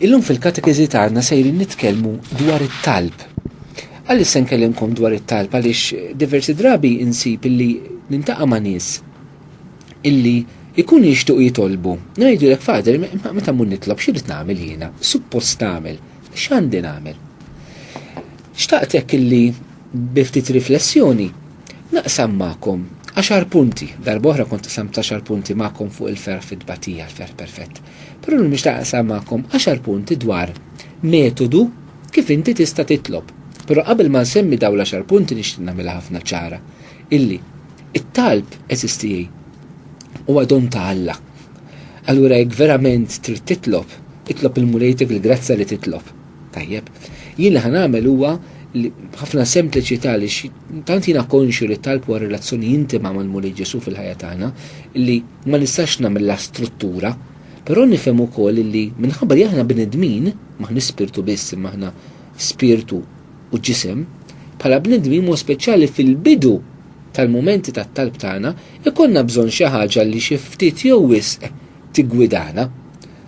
Illum fil-katekiżi tagħna sejrin nitkellmu dwar it-talb. Għaliex se nkellimkom dwar it-talb għaliex diversi drabi insib illi nintaqa' ma' nies illi jkunu jixtuq jitolbu. Ngħidu lek fader, meta mmur nitlob x'irid nagħmel jiena? Suppost nagħmel, x'għandi nagħmel? Xtaqt hekk illi bi ftit riflessjoni naqsam magħkom għaxar punti, darba oħra kont qsamt għaxar punti magħkom fuq il-ferħ fit-tbatija, l-ferħ perfett. Però llum nixtieq naqsam magħkom għaxar punti dwar metodu kif inti tista' titlob. Però qabel ma nsemmi dawn l-għaxar punti nixtieq nagħmilha ħafna ċara illi it-talb SSTA huwa don ta' Alla. Allura jekk verament trid titlob, itlob il-Mulejtek il-grazzja li titlob. Tajjeb. Jien li ħanamel huwa ħafna sempliċità li tant jiena konxju li talb huwa relazzjoni intima mal-Mulej Ġesu fil-ħajja tagħna li Ma nistax nagħmilha struttura, però nifhem ukoll illi minħabba li aħna bnedmin, m'aħniex spirtu biss imma aħna spirtu u ġisem, bħala bnedmin b'mod speċjali fil-bidu tal-mumenti tat-talb tagħna jkollna bżonn xi ħaġa li xi ftit jew wisq tiggwidana.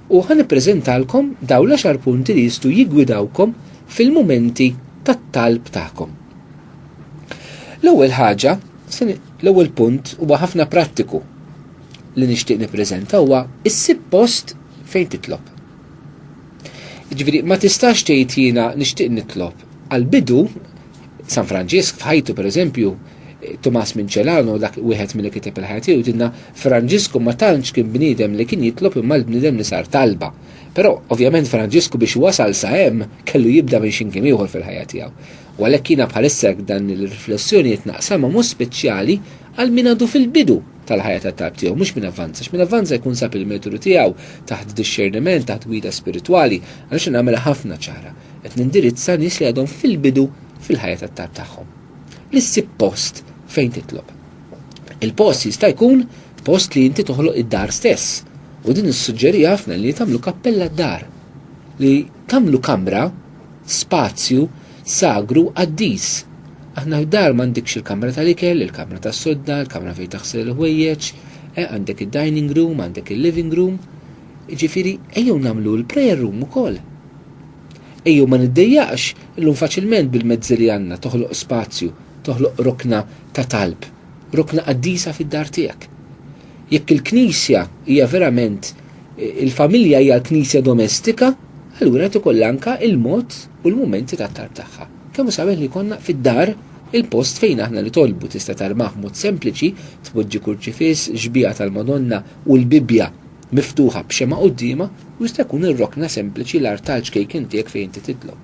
U ħa nippreżentalkom dawn l-għaxar punti li jistgħu jiggwidawkom fil-mumenti tat-talb tagħkom. L-ewwel ħaġa, L-ewwel punt huwa ħafna prattiku li nixtieq nippreżenta huwa issib post fejn titlob. Jiġifieri ma tistax tgħid jiena nixtieq nitlob. Għall-bidu San Franġisk f'ħajtu pereżempju Tomas Mincelano dak wieħed milli kiteb il-ħajja tiegħu jgħidilna Franġisku ma tantx kien bniedem li kien jitlob imma l-bniedem li sar talba. Però ovvjament Franġisku biex wasal sa hemm kellu jibda minn xi mkien ieħor fil-ħajja tiegħu. U għalhekk jiena bħalissa jekk dan il-riflessjoni qed naqsamha mod speċjali għal min għadu fil-bidu tal-ħajja ta' talb tiegħu, mhux min avvanza. X'min avvanza jkun sab il-metodu tiegħu taħt dixxerniment, taħt gwida spiritwali, għaliex nagħmel ħafna ċara. Qed nindirizza nies li għadhom fil-bidu fil-ħajja ta' talb tagħhom. Li ssib post fejn titlob. Il-post jista' jkun post li inti toħloq id-dar stess. U din issuġġeri ħafna li tagħmlu kappella d-dar. Li tagħmlu kamra spazju sagru qaddis. Aħna f'dar m'għandikx il-kamra tal-ikel, il-kamra tas-sodda, il-kamra fejn taħsel il-ħwejjeġ, eh, għandek id-dining room, għandek il-living room. Ġifieri, ejjew nagħmlu l-prayer room ukoll. Ejjew ma niddejjaqx illum faċilment bil-mezzi li għandna toħloq spazju, toħloq rokna ta' talb. rukna qaddisa fid-dar tiegħek. Jekk il-Knisja hija verament il-familja hija l-Knisja domestika, allura qed ikollha anke il-mod u l-mumenti tat-talb tagħha. Kemm hu sabiħ li jkollna fid-dar il-post fejn aħna nitolbu tista' tarmah b'mod sempliċi, tpoġġi kurċifiss, xbieha tal-Madonna u l-Bibbja miftuħa b'xemgħa quddiemha u jista' jkun ir-rokna sempliċi l-artal ċkejken tiegħek fejn inti titlob.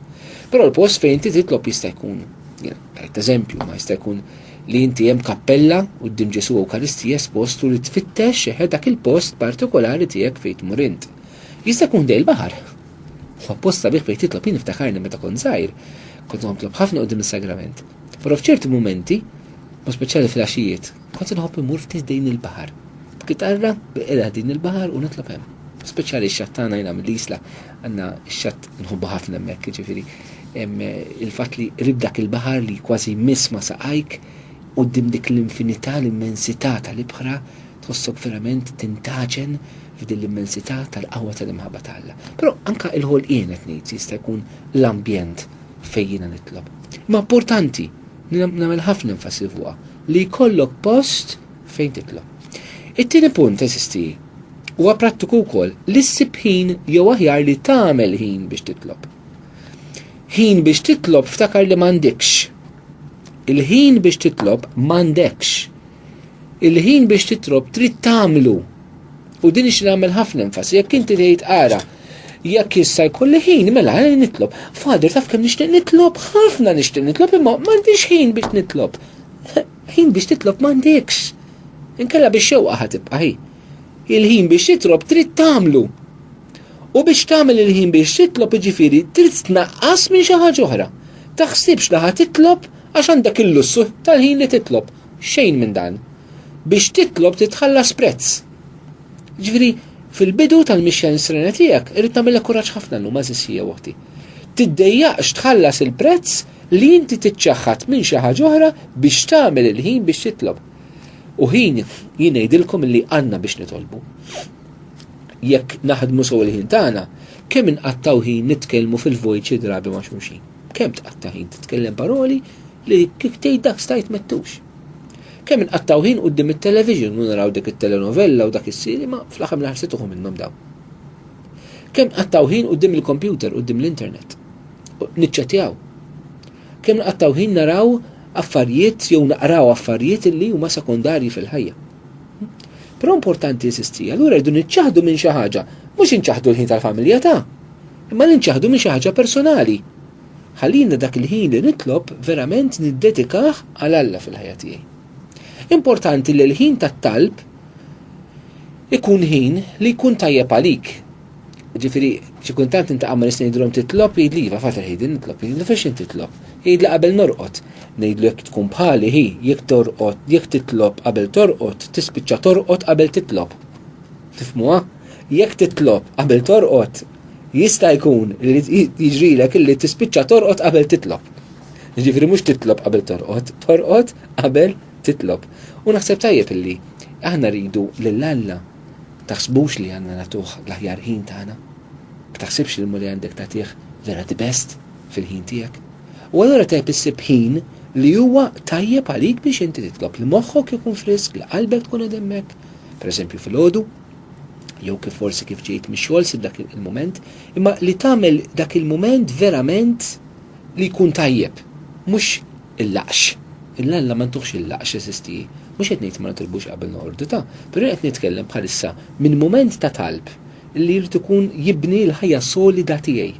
Però l-post fejn inti titlob jista' jkun, jien tajt eżempju, ma jista' jkun li inti hemm kappella quddiem Ġesù Ewkaristija espost u li tfittex dak il-post partikolari tiegħek fejn tmur int. Jista' jkun ħdejn il-baħar. Huwa post sabiħ fejn titlob jien niftakarni meta kont żgħir, kont nitlob ħafna quddiem is-sagrament. Però f'ċerti mumenti, mod speċjali fil-għaxijiet, kont inħobb immur ftit ħdejn il-baħar. B'kitarra, bil-qiegħda ħdejn il-baħar u nitlob hemm. Speċjali x-xatt tagħna jiena mill-Isla, Għandna x-xatt nħobbu ħafna hemmhekk, jiġifieri il-fatt li qrib dak il-baħar li kważi jmiss ma' saqajk, quddiem dik l-infinità, l-immensità tal-ibħra, tħossok verament tintgħaġen f'din l-immensità tal-qawwa tal-imħabba ta' Alla. Però anke l-ħolqien qed ngħid jista' jkun l-ambjent fejn jiena nitlob. Imma importanti, nagħmel ħafna enfasi fuqha, li jkollok post fejn titlob. It-tieni punt, eżiż tiegħi, huwa prattiku wkoll li ssib ħin jew aħjar li tagħmel ħin biex titlob. Ħin biex titlob ftakar li m'għandekx. Il-ħin biex titlob m'għandekx. Il-ħin biex titlob trid tagħmlu. U din ix nagħmel ħafna enfasi jekk inti tgħid ara jekk issa jkolli ħin mela eh, nitlob. Fader taf kemm nixtieq nitlob, ħafna nixtieq nitlob imma m'għandix ħin biex nitlob. Ħin biex titlob m'għandekx. Inkella bix-xewqa ħa tibqa' hi. Il-ħin biex titlob trid tagħmlu. U biex tagħmel il-ħin biex titlob jiġifieri trid tnaqqas minn xi ħaġa oħra. Taħsibx li ħa titlob għax għandek il-lussu tal-ħin li titlob. Xejn minn dan. Biex titlob titħallas prezz. Ġifieri fil-bidu tal-mixja nisrena tiegħek irid tagħmilha kuraġġ ħafna llum għażiż hija oħti. Tiddejjaqx tħallas il-prezz li inti tiċċaħħad minn xi ħaġa oħra biex tagħmel il-ħin biex titlob. U ħin jien ngħidilkom li għandna biex nitolbu. Jekk naħdmu sew il-ħin tagħna, kemm inqattaw ħin nitkellmu fil-vojt xi drabi ma' xulxin. Kemm tqatta' ħin titkellem paroli li kif tgħid dak stajt mettux. Kemm inqattaw ħin qudiem it-television u naraw dik it-telenovella u dak is-siri ma fl-aħħar mill-aħħar se minnhom dawn. Kemm qattaw ħin qudiem il-kompjuter, qudiem l-internet. niċċettjaw. Kemm nqattaw ħin naraw affarijiet jew naqraw affarijiet li huma sekondarji fil-ħajja. Però importanti insisti, allura rridu niċċaħdu minn xi ħaġa, mhux inċaħdu l-ħin tal-familja ta' imma li nċaħdu minn xi ħaġa personali. Ħallina dak il-ħin li nitlob verament niddedikah għal Alla fil-ħajja tiegħi. Importanti li l-ħin tat-talb ikun ħin li jkun tajjeb għalik, Ġifiri, xi kuntant intaqa' ma' nista' ngħidilhom titlob jgħidli iva fatar ħidi nitlob jgħidlu fejn x'in titlob. Jgħidli qabel norqod. Ngħidlu jekk tkun bħali hi jekk torqod jekk titlob qabel torqod tispiċċa torqod qabel titlob. Tifmuha? Jekk titlob qabel torqod jista' jkun li jiġrilek illi tispiċċa torqod qabel titlob. Ġifieri mhux titlob qabel torqod, torqod qabel titlob. U naħseb tajjeb illi aħna rridu lil Alla taħsbux li għandna nagħtuh l-aħjar ħin tagħna. Ma taħsibx li l-Mulej għandek tagħtih vera the best fil-ħin tiegħek. U allura tajjeb issib ħin li huwa tajjeb għalik biex inti titlob li moħħok ikun frisk, li qalbek tkun qed hemmhekk, pereżempju fil-għodu, jew kif forsi kif ġejt mix-xogħol sib dak il-mument, imma li tagħmel dak il-mument verament li jkun tajjeb, mhux Il-laqx. Lil Alla ma ntuhx il-laqx, eżisti. Mhux qed ngħid li ma nitlbux qabel noqordu, ta. Però jien qed nitkellem bħalissa minn mument ta' talb li jrid ikun jibni l-ħajja solida tiegħi.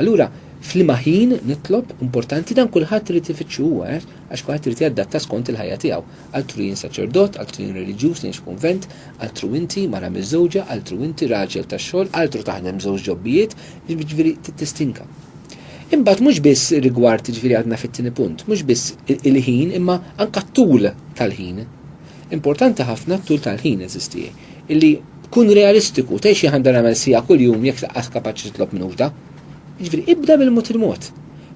Allura, f'liema ħin nitlob, importanti, dan kulħadd irid ifittxu huwa, għex għax kulħadd irid jadatta skont il-ħajja tiegħu. Altru jien saċerdot, altru jien reliġjuż li ngħix f'kunvent, altru inti, mara miżżewġa, altru inti, raġel tax-xogħol, altru taħdem żewġ ġobbijiet, jiġifieri tittistinka. Imbagħad mhux biss rigward, jiġifieri għadna fit-tieni punt, mhux biss il-ħin imma anke t-tul tal-ħin. Importanti ħafna t-tul tal-ħin, għeżież tiegħi, illi kun realistiku, tgħidx li għandi nagħmel siegħa kuljum jekk laqqas kapaċi titlob minn uħda. Jiġifieri ibda mill-mod il-mod.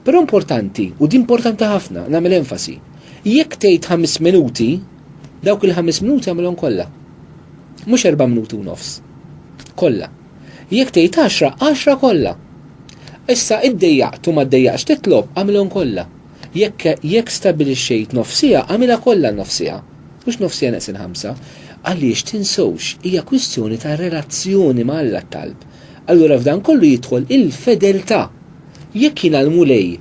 Però importanti, u di importanti ħafna, nagħmel enfasi. Jekk tgħid ħames minuti, dawk il-ħames minuti għamilhom kollha. Mhux erba' minuti u nofs. Kollha. Jekk tgħid għaxra, għaxra kollha. Issa iddejjaqt u ma ddejjaqtx titlob, agħmilhom kollha. Jekk jekk stabbilixxejt nofs siegħa, agħmilha kollha n-nofs siegħa, mhux nofs siegħa neqsin ħamsa. Għaliex, tinsewx, hija kwistjoni ta' relazzjoni ma' Alla t-talb. Allura f'dan kollu jidħol il-fedeltà. Jekk jien għal Mulej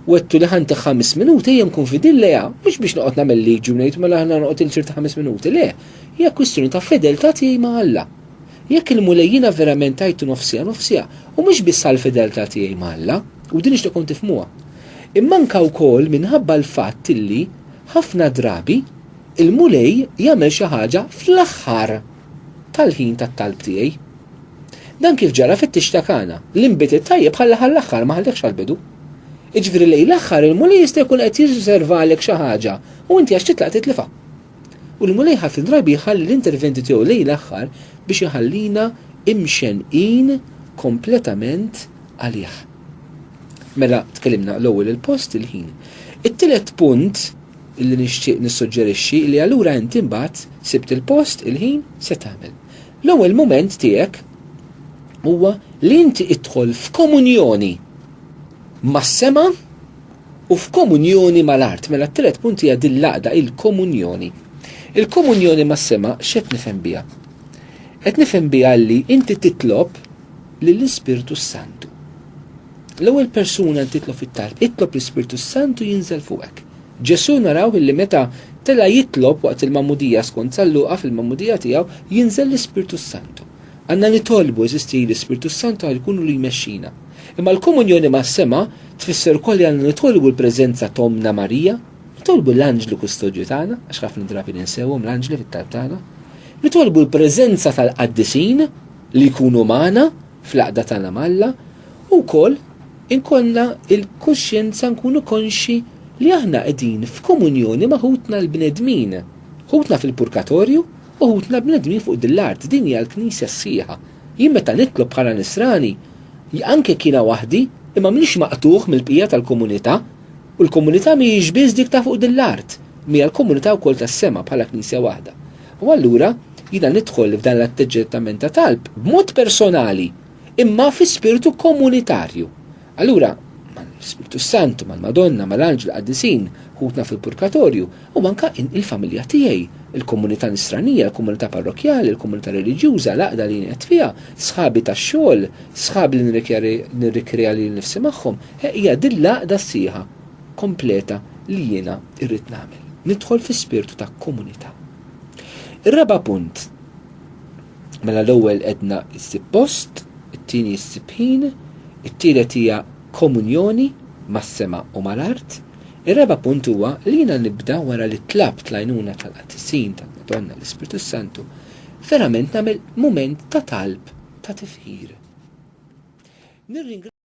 wegħdtu li ħa ntih ħames minuti, ejja nkun fidil lejha, mhux biex noqgħod nagħmel liġi u ngħid mela aħna noqgħod ilsir ta' ħames minuti, le, hija kwistjoni ta' fedeltà tiegħi ma' Alla. Jekk il-Mulej jiena verament għidtu nofsiha nofsiha, u mhux biss għall-fideltà tiegħi ma' Alla, u din nixtieq tkun tifhmuha, imma anke wkoll minħabba l-fatt illi, ħafna drabi, il-Mulej jagħmel xi ħaġa fl-aħħar tal-ħin tat-talb tiegħi. Dan kif ġara fit-tix ta' Kana, li nbiet it-tajjeb ħalla ħall-aħħar ma ħallihx għall-bidu. Jiġifieri lejn l-aħħar il-Mulej jista' jkun qed jirriżervalek xi ħaġa u inti għax titlaq titlifha. U l-Mulej ħafna drabi jħalli l-interventi tiegħu lejn l-aħħar biex iħallina imxenqin kompletament għalih. Mela tkellimna l-ewwel il-post il-ħin. It-tielet punt li nixtieq nissuġġerixxi li allura inti mbagħad sibt il-post il-ħin se tagħmel. L-ewwel mument tiegħek huwa li inti idħol f'komunjoni mas-sema u f'komunjoni mal-art. Mela t-tielet punt hija din l-għaqda, il-komunjoni. Il-komunjoni mas-sema x'qed nifhem biha? Qed nifhem biha li inti titlob lill-Ispirtu s-Santu. L-ewwel persuna li titlob fit-talb, itlob l-Ispirtu s-Santu jinżel fuqek. Ġesù naraw illi meta tela' jitlob waqt il-magħmudija skont San Luqa fil-magħmudija tiegħu jinżel l-Ispirtu s-Santu. Għandna nitolbu, għeżież tiegħi, l-Ispirtu s-Santu ħalli jkun hu li jmexxina. Imma l-komunjoni mas-sema tfisser ukoll li għandna nitolbu l-preżenza ta' Ommna Marija, nitolbu l-anġlu kustodju tagħna, għax ħafna drabi ninsewhom l-anġli fit-talb tagħna, nitolbu l-preżenza tal-qaddisin li jkunu magħna fl-għaqda tagħna ma' Alla, u wkoll inkollna l-kuxjenza nkunu konxji li aħna qegħdin f'komunjoni ma' ħutna l-bnedmin, ħutna fil-purgatorju, Uħudna bnedmin fuq din l-art, din hija l-Knisja s-sħiħa. Jien meta nitlob bħala Nisrani, anke jekk jiena waħdi, imma m'iniex maqtugħ mill-bqija tal-komunità. U l-komunità mhijiex biss dik ta' fuq din l-art, imma hija l-komunità wkoll tas-sema bħala Knisja waħda. U allura, jiena nidħol f'dan l-atteġġettament ta' talb b'mod personali, imma fi spirtu komunitarju. Allura, mal-Ispirtu s-Santu, mal-Madonna, mal-anġli, l-qaddisin, ħutna fil-Purgatorju, u anke il-familja tiegħi, il-komunità nisranija, il-komunità parrokkjali, il-komunità reliġjuża, l-għaqda li jien qiegħed fiha, sħabi tax-xogħol, sħabi li nirrikrea lili nnifsi magħhom, hija din l-għaqda sħiħa, kompleta li jiena rrid nagħmel. Nidħol fi spirtu ta' komunità. Ir-raba' punt, mela l-ewwel qedna ssib post, it-tieni ssib ħin, it-tielet hija komunjoni mas-sema u mal-art, Ir-raba' punt huwa li jiena nibda wara li tlabt l-għajnuna tal-qaddisin tal-Madonna l-Ispirtu s-Santu, verament nagħmel mument ta' talb ta' tifħir.